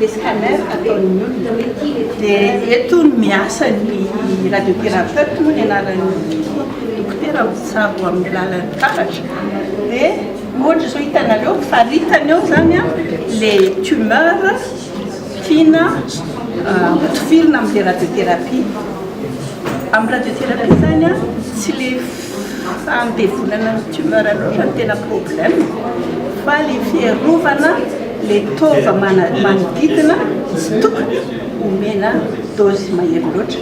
le scanner ataon'ny olona hoe ity le tia dia eto no miasa ny radiothérapeute moa ny anaran'ny dokotera mitsabo amin'ny lalan'ny taratra dia ohatra izao hitanareo faritany eo zany a le tumeur tiana hotifirina amin'ny radiotherapie amin'ny radiotherapie zany a tsy le Fa ny devolana ny tumeur loatra no tena problème fa le fiarovana le tova manodidina tsy tokony omena dose mahery loatra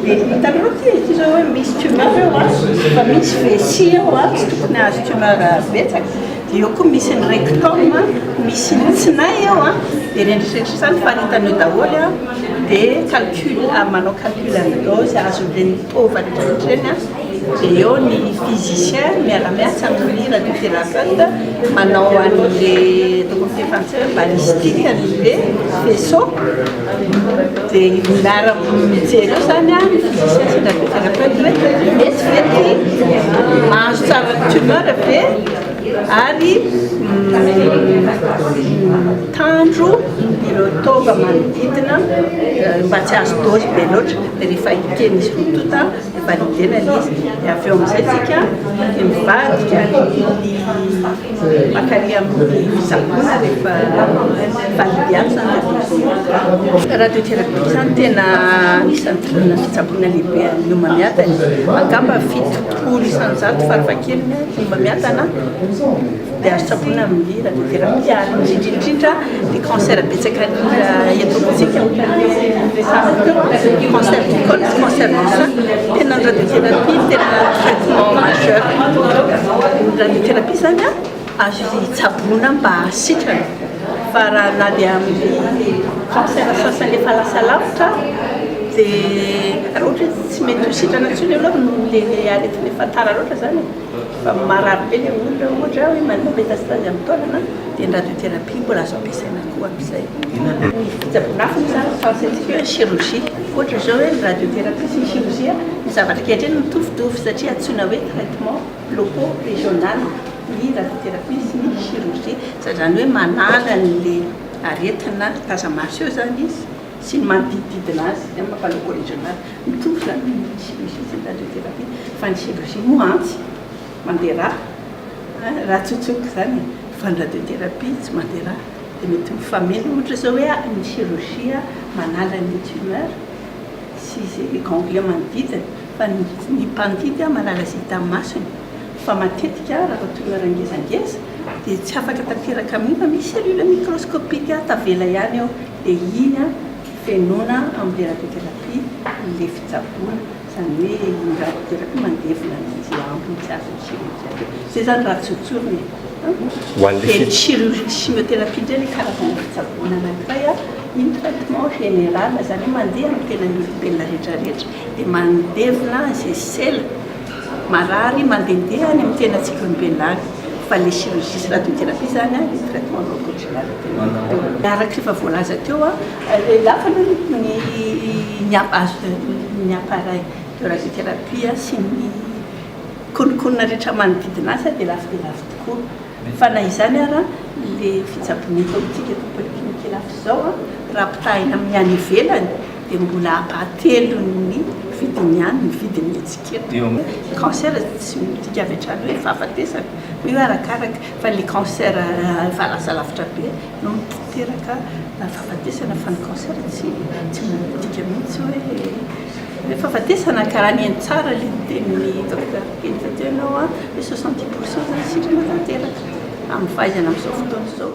de hitanareo ty e, ty zao hoe misy tumeur eo a, fa misy vessie eo a, tsy tokony hahazo tumeur betsaka, de eo koa misy ny rectum a, misy ny tsinay eo a, de eritrereto zany faritany eo daholo a, de calcul, manao calcul an'ny dose azon'ireny tova retraretra ireny a. Dia eo ny physicien miara-miasa amin'ny radiothérapeute manao an'ilay ataoko amin'ny teny frantsay hoe balistique an'ilay faisceau. Dia io miaraka mijery eo izany ny physicien sy ny radiothérapeute hoe mety ve ity mahazo tsara ny tumeur ve ary mitandro ireo taova manodidina mba tsy hahazo dose be loatra rehefa eken'izy roa tonta. dia valider la liste dia avy eo amin'izay tsika dia mivadika ny makary amin'ny fisaboana rehefa valider ny centre de vote radio thérapie izany tena anisan'ny tolona fitsaboana lehibe an'ny homamiadana angamba fito folo isanjato farafahakeliny ny homamiadana Dia azo tsaboina amin'ny radiothérapie ary indrindra indrindra dia cancer betsaka mila eto amintsika ohatra ny hoe resahana teo cancer du col sy cancer du sein tena ny radiothérapie tena traitement majeur ny radiothérapie zany a azo tsaboina mba sitrana fa raha na dia amin'ny cancer sasany efa lasa lavitra dia raha ohatra hoe tsy mety ho sitrana intsony aloha no le aretina efa tara loatra zany e. Fa marary be ilay olona, ohatra hoe manana métastase amin'ny taolana dia ny radiothérapie mbola azo ampiasaina koa amin'izay. Ny fitsaboan'afo moa izany no faritsantsika hoe chirurgie. Ohatra izao hoe ny radiothérapie sy ny chirurgie, ny zavatra ankehitriny mitovitovy satria antsoina hoe traitement locaux régional ny radiothérapie sy ny chirurgie. Izany hoe manala an'ilay aretina taza-maso eo izany izy sy ny manodidididina azy, izay no maha Paleco Regional. Ny trondro izany no misy misy etsy an-danitra etsy ankavia, fa ny Chèvre-Chien moa antsy, mandeha ra, ra tsotsoka izany e, fa ny Radiothérapie tsy mandeha ra, dia mety mifameno ohatra izao hoe ny Chirurgie manala ny Tumeur sy izay Ganglion manodidina, fa ny ny mpandidy manala izay hita masony, fa matetika raha Tumeur ngezangeza dia tsy afaka tanteraka amin'io fa misy Cellule Microscopique tavela ihany ao. dia iny an fenoina amin'ny terapi terapi ilay fitsaboana, izany hoe iny radio terapi mandevona ny anjy ambiny tsy azon'ny chirurgien be, izay izany raha tsy hotsorina e! Ho an'ilay dia ny chirurgie chimiotherapie indray ilay karazana fitsaboana anankiray an, iny traitement général, izany hoe mandeha amin'ny tenan'ny olombelona rehetra rehetra dia mandevona izay sela, Marary mandehandeha any amin'ny tena antsika olombelona any fa le chirurgie sy radiothérapie zany an le traitement non conjugal tena. Araka efa voalaza teo an, le lafo aloha ny ny azo ny appareil de radiothérapie sy ny kononkonona rehetra manodidina azy dia lafo dia lafo tokoa. Fa na izany ara le fitsaboana eto amintsika eto Polyclinique Ilafy izao an raha ampitahaina amin'ny any ivelany, dia mbola hatelon'ny vidiny ihany ny vidin'ny etsiketa. Ny cancer tsy midika avy hatrany hoe fahafatesana, fa io arakaraka, fa ilay cancer efa lasa lavitra be no miteraka fahafatesana, fa ny cancer tsy midika mihitsy hoe fahafatesana, ka raha nihaino tsara ilay nitenin'i Docteur Kenta teo ianao an, hoe soixante dix pourcent izany sitrana tanteraka amin'ny fahaizana amin'izao fotoana izao.